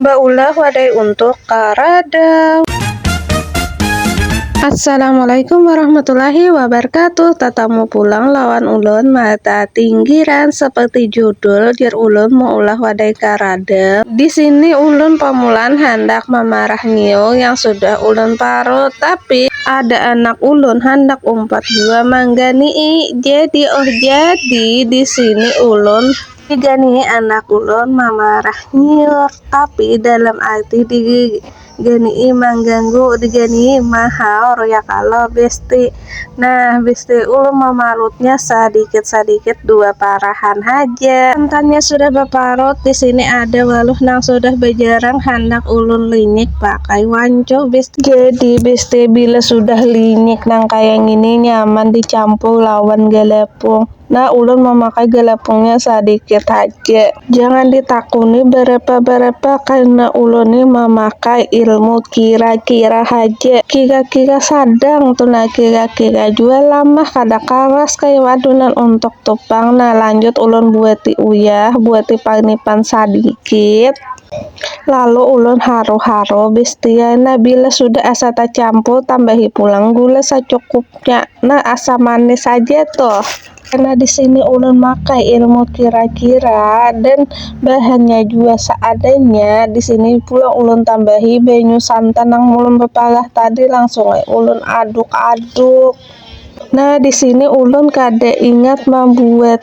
Baulah wadai untuk karada. Assalamualaikum warahmatullahi wabarakatuh Tatamu pulang lawan ulun Mata tinggiran seperti judul Jar ulun meulah wadai karada Di sini ulun pamulaan handak mamarah nyiung yang sudah ulun parut Tapi ada anak ulun handak umpat jua mangganii Jadi oh jadi di sini ulun Tiga nih anak ulun mamarah nyiur tapi dalam ati diganii mangganggu diganii mahaur ya kalo besti nah besti ulun mamarutnya sadikit sadikit dua parahan haja santannya sudah baparut disini ada waluh nang sudah bajarang handak ulun linyik pakai wancuh besti. Jadi besti bila sudah linyik nang kaya ngini nyaman dicampur lawan galapung. Nah, ulun mamakai galapungnya sadikit haja. Jangan ditakuni barapa-barapa karena ulun ni mamakai ilmu kira-kira haja. Kira-kira sadang tu nah, kira-kira jua lamah kada karas kaya wadunan untuk tu pang. Nah, lanjut ulun buati uyah, buati parnipan sadikit. Lalu ulun haru-haru bis tiar. Nah, bila sudah asa tacampur tambahi pulang gula sacukupnya. Ya, nah asa manis saja tuh. Karena di sini ulun makai ilmu kira-kira dan bahannya juga seadanya, di sini pula ulun tambahi banyu santan yang ulun bepalah tadi langsung ulun aduk-aduk. Nah, di sini ulun kada ingat membuat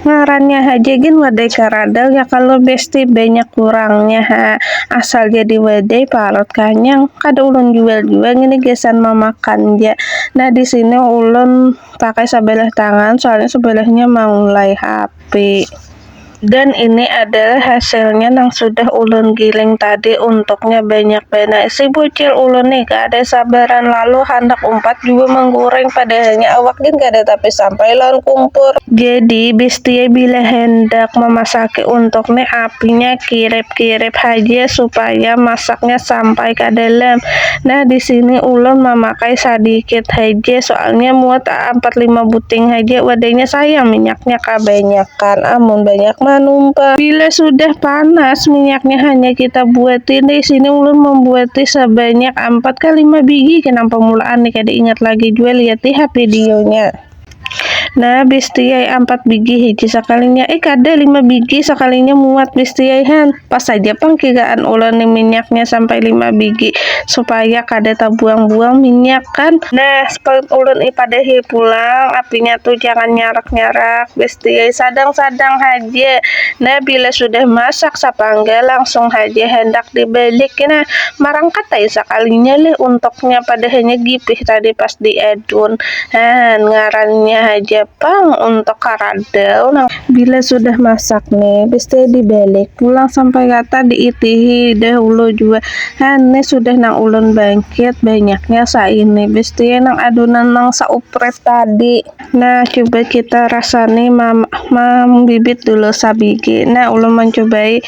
Ngarannya haja gin wadai karadal ya kalo besti, banyak kurangnya ha, asal jadi wadai parut kanyang, kada ulun jual jua ngini gasan mamakan ja, nah disini ulun pakai sabalah tangan soalnya sabalahnya maulai hape. Dan ini adalah hasilnya nang sudah ulun giling tadi untuknya banyak banar, si bucil ulun nih kada sabaran lalu handak umpat jua manggureng padahalnya awak gin kada tapi sampai lawan kumpur. Jadi Bestie bila hendak memasaki untuk nih apinya kirip-kirip haja supaya masaknya sampai ka dalam. Nah di sini ulun mamakai sadikit haja soalnya muat ampat lima buting haja wadahnya sayang minyaknya kabanyakan amun banyak manumpah. Bila sudah panas minyaknya hanya kita buati di sini ulun membuati sebanyak ampat ka lima bigi kenapa mulaan nih kada ingat lagi jua lihat di ha videonya. Nah, bestiai empat bigi hiji sakalinya. Eh, kada lima bigi sakalinya muat bestiai han. Pas saja pang kigaan ulani minyaknya sampai lima bigi supaya kada tabuang-buang minyak kan. Nah, sepalut ulun i padahi pulang apinya tu jangan nyarak-nyarak bestiai sadang-sadang haja. Nah, bila sudah masak sapangga langsung haja handak dibalik kena. Marangkat ai sakalinya leh untoknya padahanya gipih tadi pas diadun. Haan, ngarannya haja pang untuk karadau nang. Bila sudah masak ne, pasti dibalik pulang sampai rata diitihi dahulu jua. Haan, ne sudah nang ulun bangkit, banyaknya saini. Pasti nang adonan nang saupret tadi. Nah, cuba kita rasani ma, ma, mambibit dulu sabigi. Nah, ulun mancubai.